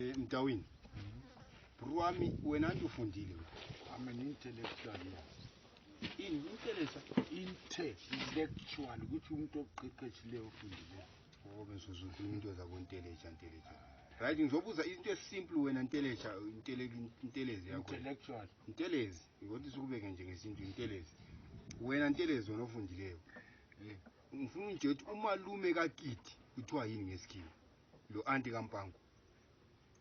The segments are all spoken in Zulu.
Eh, Mtawini. Bro wami wena nje ufundile wena. I'm an intellectual yes. In intellectual intellectual ukuthi umuntu oqeqeshileyo ofundile. Oh bese uzokhuluma into zabo intellectual intellectual. Right ngizobuza into esimple wena intellectual intellectual intelezi yakho. Intellectual. Intelezi ngokuthi sikubeke nje ngesintu intelezi. Wena intelezi wena ofundileyo. Ngifuna unje ukuthi umalume kakiti kuthiwa yini ngesikhiwa. Lo anti kaMpango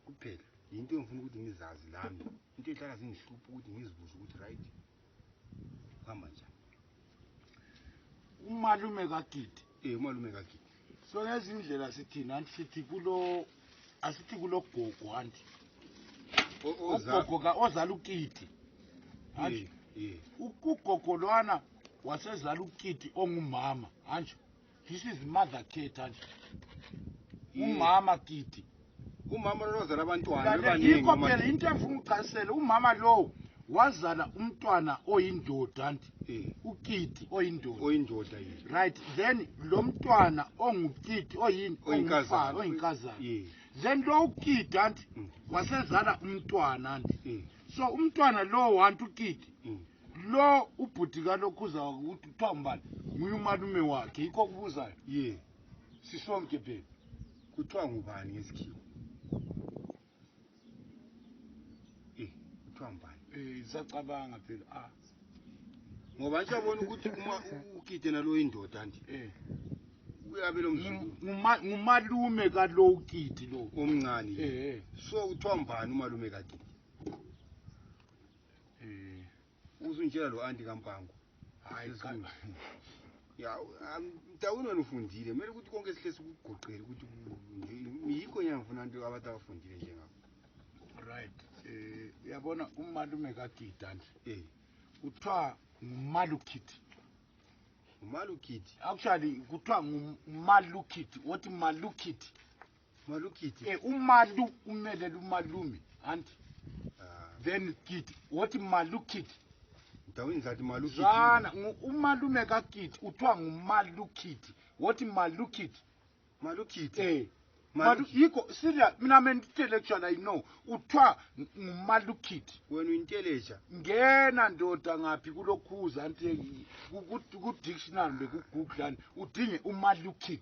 kuphela yinto engifuna ukuthi ngizazi nami. Into ehlala zingihlupha ukuthi ngizibuze ukuthi right kuhamba njani. Umalume kaGidi. Eh umalume kaGidi. So ngezindlela sithini anti sithi kulo asithi kulo gogo anti. Ugogo ka ozala uKidi. Anti. Eh, eh. Ugogo lwana wasezala uKidi ongumama. Anti. this is mother care than umama kiti umama lona ozala abantwana bebaningi phela into engifuna ukuchasisela umama lowo wazala umntwana oyindoda anti eh. ukiti oyindoda oyindoda yini right then lo mntwana ongukiti oyini oyinkazana oyinkazana then lo ukiti anti mm. wasezala umntwana anti eh. so umntwana lowo anti ukiti mm. Lo ubhuti kaNokhuza ukuthi kuthiwa umbani nguye umalume wakhe yikho okubuzayo. Ye. Sisonke baby. Kuthiwa ngubani ngesikhiwa? Eh, kuthiwa ngubani? Eh, isacabanga phela. Ah. Ngoba nje yabona ukuthi uma ukide nalo indoda nje. Eh. Uyabe lo mzukulu. Nguma- Ngumalume kalowukiti lo. Omncane. Eh, eh. So kuthiwa ngubani umalume kakhe? Eh. Uzungitshela lo anti kampango. Hayi cha. Ya mtawini wena ufundile kumele ukuthi konke sihle sikugoqele ukuthi yikho nyanga ngifuna abantu abantu abafundile njengakho. Right. Eh uyabona umalume kaGida nje. Eh. Kuthiwa ngumalukhithi. Umalukhithi. Actually kuthiwa ngumalukhithi. Wothi malukhithi. Malu kiti. Eh, umalu umele lumalume, anti. Uh, ah. then kiti. What malu kiti? Dawini zathi malu kiti. Zana, umalume ka kiti. Utwa malu kiti. What malu kiti? Malu kiti. Eh. Malu yiko sirya mina me intellectual I know uthiwa ngumalu kid wena uyintelesha ngena ndoda ngaphi kulokhuza anti ku dictionary beku google udinge umalu kid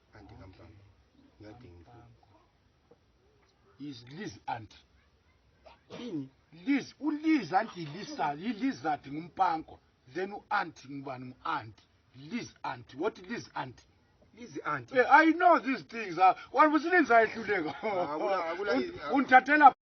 Anti kamfana. Ngiyadinga imfundo. Is Liz anti. Ini Liz uLiz anti Lisa yilizard ngumpanko. Then uanti ngubani nguanti. Liz anti. What Liz anti? Liz anti. Yeah, I know these things. Wabusini ngizayehluleka. Ungithathela